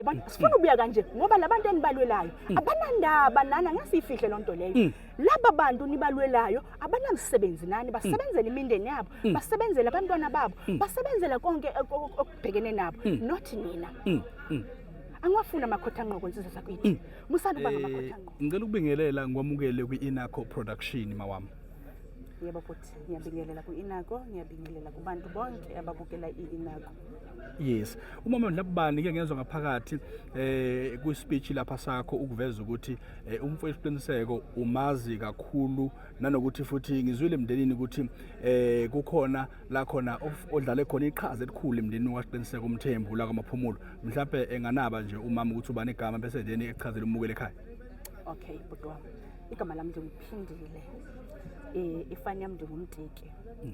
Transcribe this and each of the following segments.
Yabona sifuna ubuya kanje ngoba labantu enibalwelayo mm. abanandaba nana ngesifihle lonto leyo. Mm. Laba bantu nibalwelayo abanamsebenzi nani mm. basebenzela imindeni yabo, basebenzela abantwana babo, basebenzela konke okubhekene nabo not nina. Angiwafuna amakhotha ngqoko insizwe zakwethu. Musana uba ngamakhotha eh, ngqoko. Ngicela ukubingelela ngwamukele kwi-Inaco Production mawami. Yebo futhi ngiyabingelela ku-Inaco, ngiyabingelela kubantu bonke ababukela i-Inaco. yes umama ndlabani ke ngezwe ngaphakathi eh ku speech lapha sakho ukuveza ukuthi eh, umfowethu isiqiniseko umazi kakhulu nanokuthi futhi ngizwile emndenini ukuthi eh kukhona la khona odlale khona iqhaza elikhulu emndenini wasiqiniseko umthembu la kwamaphumulo mhlawumbe enganaba nje umama ukuthi ubani igama bese then echazela umukele ekhaya okay bhuti wami igama lami nje ngiphindile eh ifani yami nje ngumtiki mm.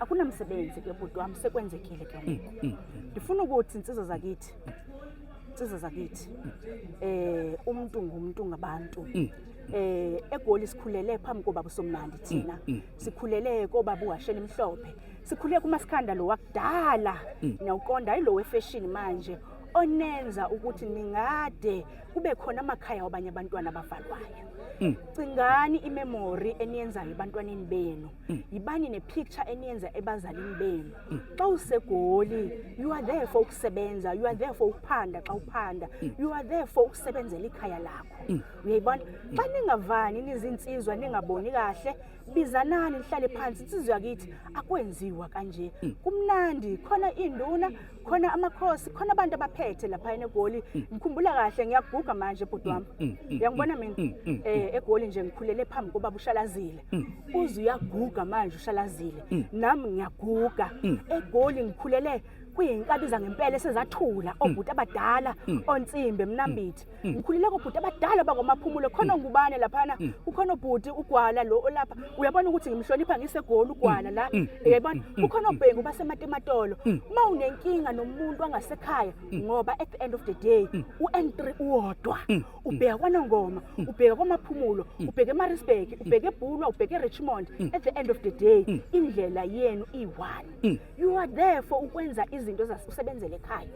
akunamsebenzi ke bhuti wami sekwenzekile ke ngoku mm, mm, mm. ndifuna ukuthi insizwa zakithi insizwa zakithi eh umuntu ngumuntu ngabantu eh egoli sikhulele phambi kobaba somnandi thina sikhulele kobaba uwashela imhlophe sikhulele kumasikhanda lo wakudala nawuqonda ayilo wefashion manje onenza ukuthi ningade kube khona amakhaya wabanye abantwana abavalwayo cingani imemory eniyenzayo ebantwaneni benu yibani nepicture eniyenza ebazalini benu xa usegoli you are there for ukusebenza you are there for ukuphanda xa uphanda you are there for ukusebenzela ikhaya lakho uyayibona xa ningavani nizinsizwa ningaboni kahle bizanani nihlale phansi insizwa yakithi akwenziwa kanje kumnandi khona induna khona amakhosi khona abantu abaphethe lapha egoli ngikhumbula kahle ngiyaguga manje bhuti wami uyangibona mina eh egoli nje ngikhulele phambi kobaba ushalazile Mm. uze uyaguga manje ushalazile mm. nami ngiyaguga mm. egoli ngikhulele kuyinkabi zangempela esezathula obhuti abadala onsimbe mnambithi ngikhulele kobhuti abadala bakwamaphumulo khona ngubane laphana ukhona obhuti ugwala lo olapha uyabona ukuthi ngimhlonipha ngisegoli ugwala la uyabona ukhona obhengu basematematolo uma unenkinga nomuntu angasekhaya ngoba at the end of the day u-n3 uwodwa ubheka kwanongoma ubheka kwamaphumulo ubheka emarisburg ubheka ebhulwa ubheka erichmond at the end of the day indlela yenu iyi-one you are there for ukwenza izinto usebenzela ekhaya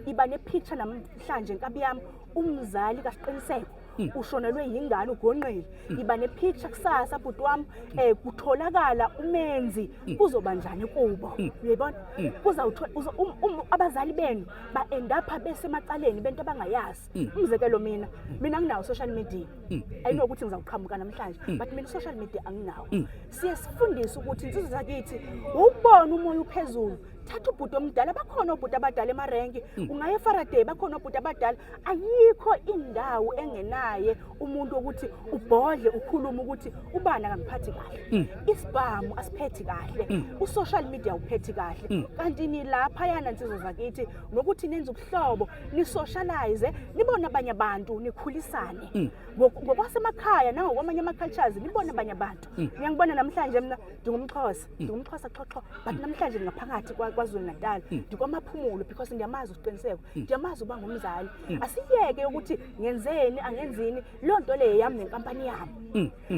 iba nepicture namhlanje nkabi yami umzali kasiqiniseko Hmm. ushonelwe yingane ugonqile hmm. iba nepicture kusasa bhuti wami um eh, kutholakala umenzi hmm. kuzoba njani kubo uyayibona kuzawuthola um, um, abazali benu ba-endapha besemacaleni bento abangayazi Mm. umzekelo mina mina nginawo social media mm. ayinokuthi ngizawuqhamuka namhlanje mm. but mina social media anginawo siye sifundise ukuthi insizwe zakithi ukubona umoya uphezulu thatha ubhuti omdala bakhona obhuti abadala emarenki ungaye efaraday bakhona obhuti abadala ayikho indawo engenaye umuntu wokuthi ubhodle ukhulume ukuthi ubani akangiphathi kahle isibhamu asiphethi kahle usocial media uphethi kahle kanti nilapha yana nsizwe zakithi nokuthi nenza ubuhlobo nisoshalayize nibone abanye abantu nikhulisane mm. ngokwasemakhaya nangokwamanye ama-cultures nibone abanye abantu mm. ngiyangibona namhlanje mna ndingumxhosa mm. ndingumxhosa xoxo but namhlanje ndingaphakathi kwazulu natal ndikwamaphumulo because ndiyamazi uqiniseko ndiyamazi uba ngumzali asiyeke ukuthi ngenzeni angenzini loo nto leyo yam nenkampani yam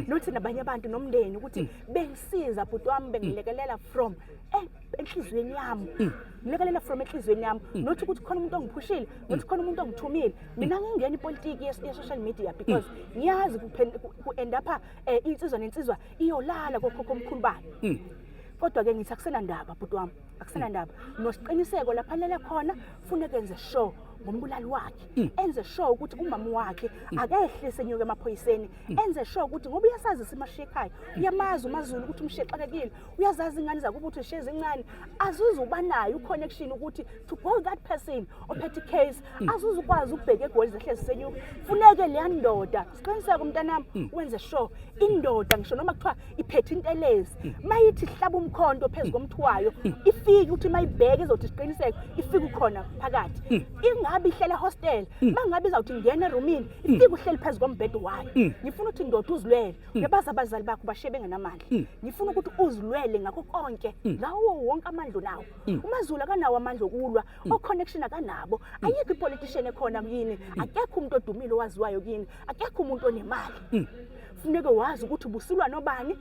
nothi nabanye abantu nomndeni ukuthi bengisiza bhuti wam bengilekelela from eh, enhliziyweni yami mm. ngilekelela from enhliziyweni yami mm. not ukuthi khona umuntu ongiphushile mm. not khona umuntu ongithumile mina ngingena ipolitiki ye-social media because ngiyazi ku-end apha um insizwa nensizwa iyolala kokhokho omkhulu bani kodwa-ke ngithi akusenandaba bhuti wami akusenandaba nosiqiniseko lapha lele khona fune kenze sure ngombulali wakhe mm. enze sure ukuthi umama wakhe mm. akehlise enyuke emaphoyiseni mm. enze sure ukuthi ngoba uyasazi simashiye ekhaya uyamazi umazulu ukuthi umshiye xakekile uyazazi ingane zakuba uthi shezi incane azuze uba nayo uconnection ukuthi to call that person ophethe icase mm. azuze ukwazi ukubheka egoli zehle zisenyuka funeke leya ndoda siqiniseke umntanami mm. wenze sure indoda ngisho noma kuthiwa iphethe intelezi mm. mayithi hlaba umkhonto phezu komthi wayo ifike ukuthi mayibheke izothi siqiniseke ifike ukhona phakathi ingabe ihlela hostel mangabe izawuthi ngena erumini ifike uhleli phezu kombhedo wayo ngifuna ukuthi ndoda uzilwele Mm. Ngebaza abazali bakho bashiye bengenamandla. Mm. Ngifuna ukuthi uzilwele ngakho konke mm. ngawo wonke amandla nawo. Mm. UMaZulu akanawo amandla okulwa, mm. oconnection akanabo. Mm. Ayikho ipolitician ekhona kuyini, mm. akekho umuntu odumile owaziwayo kuyini, akekho umuntu onemali. Mm. Funeke wazi ukuthi ubusulwa nobani,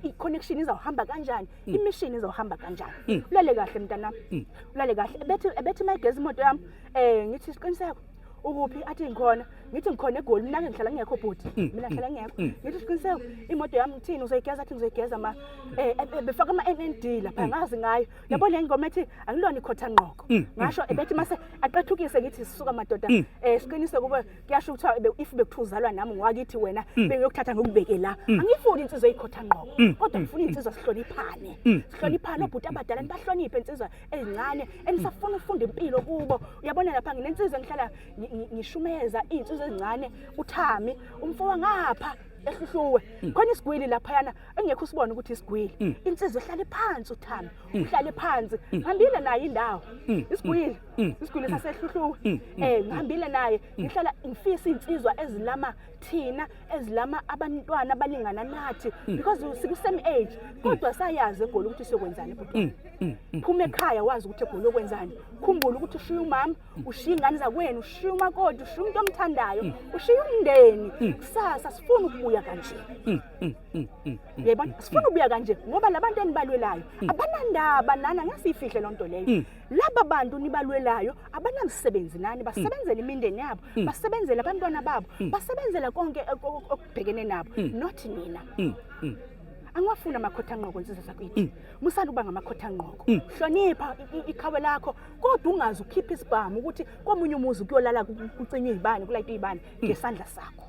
i-connection izawuhamba kanjani, mm. i-mission izawuhamba kanjani. Mm. Ulale kahle mntanami. Mm. Ulale kahle. Ebethe ebethe my gezi imoto yami. Eh ngithi isiqiniseko. ukuphi athi ngikhona ngithi ngikhona egoli mina ke ngihlala ngingekho bhuti mm, mina mm, ngihlala ngingekho mm. ngithi siqiniseko imoto yami ngithini uzoyigeza athi ngizoyigeza ma eh, eh, eh, befaka ama-nnd lapha ngazi ngayo yabo le ngoma ethi angilona ikhotha nqoko ngasho ebethi mase aqethukise ngithi sisuka madoda um siqinise kube kuyasho ukuthiwa if bekuthiwa uzalwa nami ngwakithi wena bengiyokuthatha ngikubeke la angiyifuni insizwa eyikhotha nqoko kodwa ngifuna insizwa sihloniphane sihloniphane obhuti abadala nibahloniphe insizwa ezincane enisafuna ufunda impilo kubo uyabona lapha nginensizwa ngihlala ngishumeza iy'nsizwa ezincane uthami umfo wangapha ehluhluwe mm. khona isigwili laphayana engekho usibona ukuthi isigwili mm. insizwa ihlale phansi uthami mm. uhlale phansi ngihambile naye indawo isigwili isigwili sasehluhluwe um ngihambile naye ngihlala ngifisa iy'nsizwa ezilama thina ezilama abantwana abalingana nathi mm. because sikusame age mm. kodwa sayazi egoli ukuthi siyokwenzani ebhutwana mm, phuma ekhaya wazi ukuthi egoli yokwenzani khumbula ukuthi ushiya umama ushiya ingane zakwenu ushiya umakoti ushiya umuntu omthandayo ushiya umndeni kusasa sifuna ukubuya kanje yebo sifuna ukubuya kanje ngoba labantu enibalwelayo abanandaba nana ngasifihle lonto leyo laba bantu nibalwelayo abanamsebenzi nani mm. basebenzela imindeni yabo mm. basebenzela abantwana babo mm. basebenzela konke okubhekene nabo not nina angiwafuni amakhotha nqoko insizwa zakwethu musani ukuba ngamakhotha nqoko hlonipha ikhawe lakho kodwa ungazi ukhipha isibhamu ukuthi komunye umuzi ukuyolala kucinywa izibani kulayitwa izibani ngesandla sakho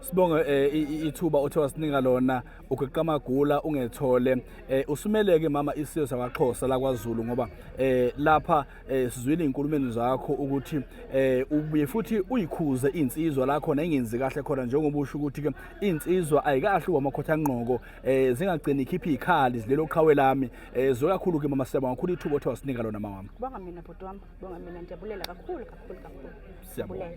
sibonga eh, ithuba othe wasinika lona ugeqa amagula ungethole eh usumeleke mama isiyo sakwaXhosa lakwaZulu ngoba eh lapha eh, sizwile inkulumeni zakho ukuthi eh ubuye futhi uyikhuze insizwa lakho nengenzi kahle khona njengoba usho ukuthi ke insizwa ayikahle uwamakhotha ngqoko eh zingagcini ikhipha ikhali zilelo qhawe lami eh zokakhulu ke mama siyabonga kakhulu ithubo othe wasinika lona mama wami bonga mina bhuti wami bonga mina ndiyabulela kakhulu kakhulu kakhulu siyabulela